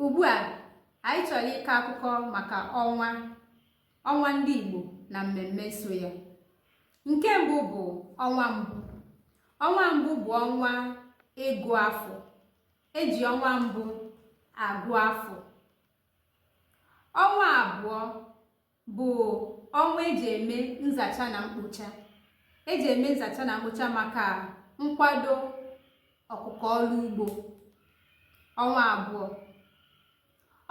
ugbu a anyị chọrọ ịkọ akụkọ maka ọnwa ọnwa ndị Igbo na mmemme so ya nke mbụ bụ ọnwa mbụ ọnwa mbụ bụ ọnwa ịgụ afọ eji ọnwa mbụ agụ afọ ọnwa abụọ bụ ọnwa eji eme nzacha na mkpocha eji eme nzacha na mkpocha maka nkwado ọkụkọ ọrụ ugbo ọnwa abụọ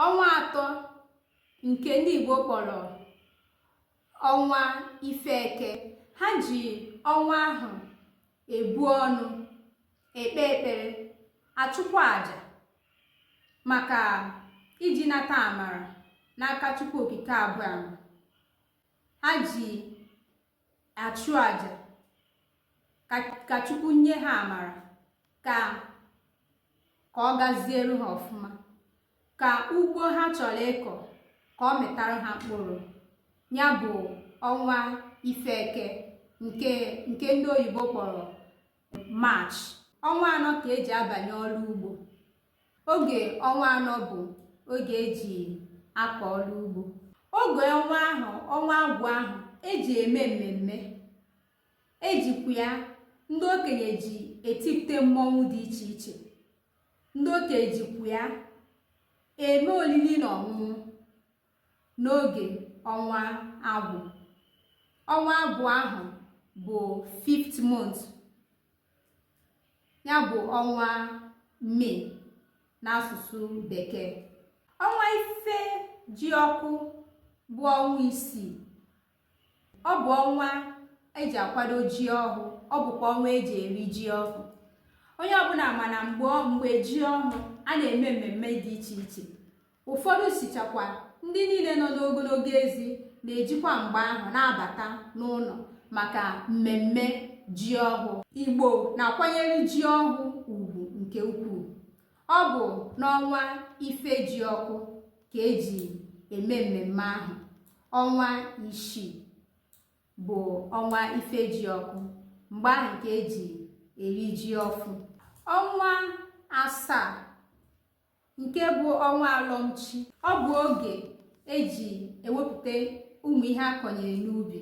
ọnwa atọ nke ndị Igbo kpọrọ ọnwa ife eke ha ji ọnwa ahụ ebu ọnụ ekpe ekpere achụkwa aja maka iji nata amara n'aka Chukwu Okike Abịama ha ji achụ aja ka Chukwu nye ha amara ka ka ọ gaziere ha ọfụma ka ugbo ha chọrọ ịkọ ka ọ mịtara ha mkpụrụ ya bụ ọnwa ife eke nke nke ndị oyibo kpọrọ March ọnwa anọ ka eji abanye ọrụ ugbo oge ọnwa anọ bụ oge eji akọ ọrụ ugbo oge ọnwa ahụ ọnwa agwụ ahụ eji eme mmemme ejikwa ya ndị okenye ji etipụta mmọnwụ dị iche iche ndị okenye jikwa ya eme olili na ọṅụṅụ n'oge ọnwa agwụ ọnwa agwụ ahụ bụ fifth month ya bụ ọnwa May n'asụsụ bekee ọnwa Ifejiọkụ bụ ọnwa isii ọ bụ ọnwa eji akwado ji ọhụụ ọ bụkwa ọnwa eji eri ji ọhụụ onye ọbụla ma na mgbe mgbe ji ọhụụ a na-eme mmemme dị iche iche ụfọdụ sichakwa ndị niile nọ n'ogologo ezi na-ejikwa mgbe ahụ na-abata n'ụlọ maka mmemme ji ọhụụ igbo na-akwanyere ji ọhụụ ugwu nke ukwuu ọ bụ n'ọnwa Ifejiọkụ ka eji eme mmemme ahụ ọnwa isii bụ ọnwa Ifejiọkụ mgbe ahụ ka eji eri ji ọfụ ọnwa asaa nke bụ ọnwa alọmchi ọ bụ oge eji ewepụta ụmụ ihe akọnyere n'ubi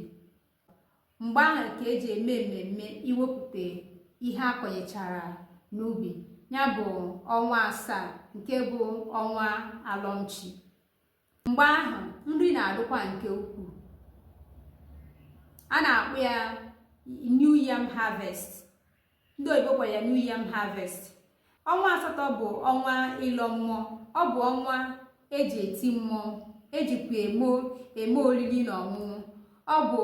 mgbe ahụ ka eji eme mmemme iwepụta ihe a kọnyechara n'ubi ya bụ ọnwa asaa nke bụ ọnwa alọmchi mgbe ahụ nri na-adịkwa nke ukwuu a na-akpọ ya new yam harvest ndị oyibo kpọrọ ya new yam harvest ọnwa asatọ bụ ọnwa ịlọ mmụọ ọ bụ ọnwa eji eti mmụọ ejikwa eme eme oriri na ọṅụṅụ ọ bụ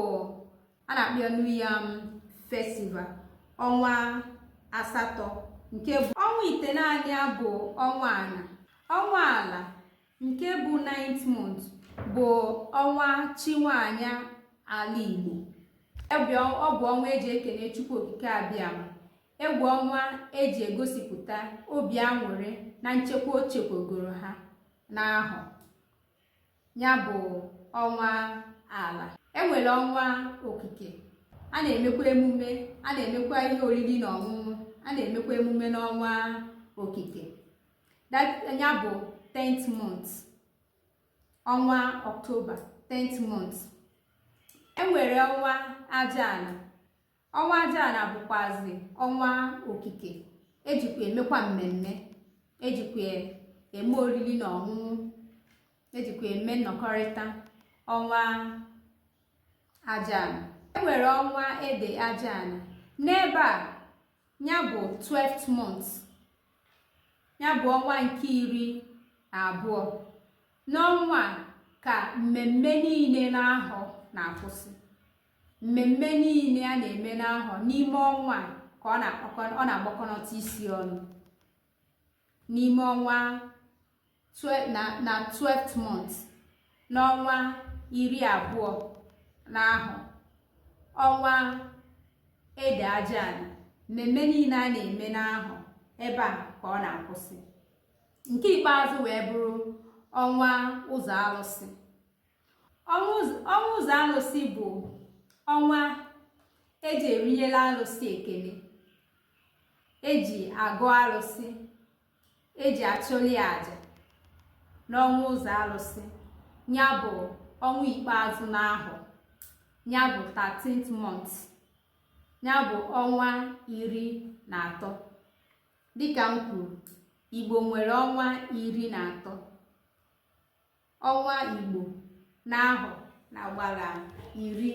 a na-akpọ ya new yam festival ọnwa asatọ nke ọnwa itenaanị ya bụ ọnwa ala ọnwa ala nke bụ ninth month bụ ọnwa chi nwaanyị ala Igbo ebe ọ bụ ọnwa eji ekene Chukwu Okike Abịama ọ bụ ọnwa eji egosipụta obi aṅụrị na nchekwa o chekwagoro ha n'ahọ ya bụ ọnwa ala enwere ọnwa okike a na-emekwa emume a na-emekwa ihe oriri na ọṅụṅụ a na-emekwa emume n'ọnwa okike ya bụ 10th month ọnwa ọktoba 10th month enwere ọnwa ajaana ọnwa ajaana bụkwazi ọnwa okike ejikwa emekwa mmemme ejikwa eme oriri na ọṅụṅụ ejikwa eme nnọkọrịta ọnwa ajaana enwere ọnwa ede ajaana n'ebe a ya bụ 12th month ya bụ ọnwa nke iri na abụọ n'ọnwa a ka mmemme niile n'ahọ na-akwụsị mmemme niile a na-eme n'ahọ n'ime ọnwa a ka ọ na-agbakọnọta isi ọnụ n'ime ọnwa na 12th month n'ọnwa iri abụọ n'ahọ ọnwa ede ajaana mmemme niile a na-eme n'ahọ ebe a ka ọ na-akwụsị nke ikpeazụ wee bụrụ ọnwa ụzọ alụsị ọnwa ụzọ alụsị bụ ọnwa eji erinyela alụsị ekele eji agọ alụsị eji achụli ya aja n'ọnwa ụzọ alụsị ya bụ ọnwa ikpeazụ n'ahọ ya bụ 13th month ya bụ ọnwa iri na atọ dịka m kwuru igbo nwere ọnwa iri na atọ ọnwa Igbo n'ahọ na gbara iri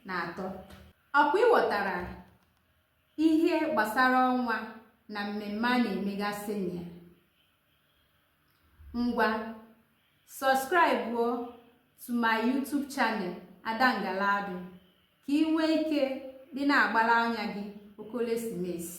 na atọ. Ọkwa ị ghọtara ihe gbasara ọnwa na mmemme a na-emegasị na ya? Ngwa, sọskraịbuo to my YouTube channel Ada Ngaladu ka ị nwee ike ịdị na-agbara anya gị okolesimesi.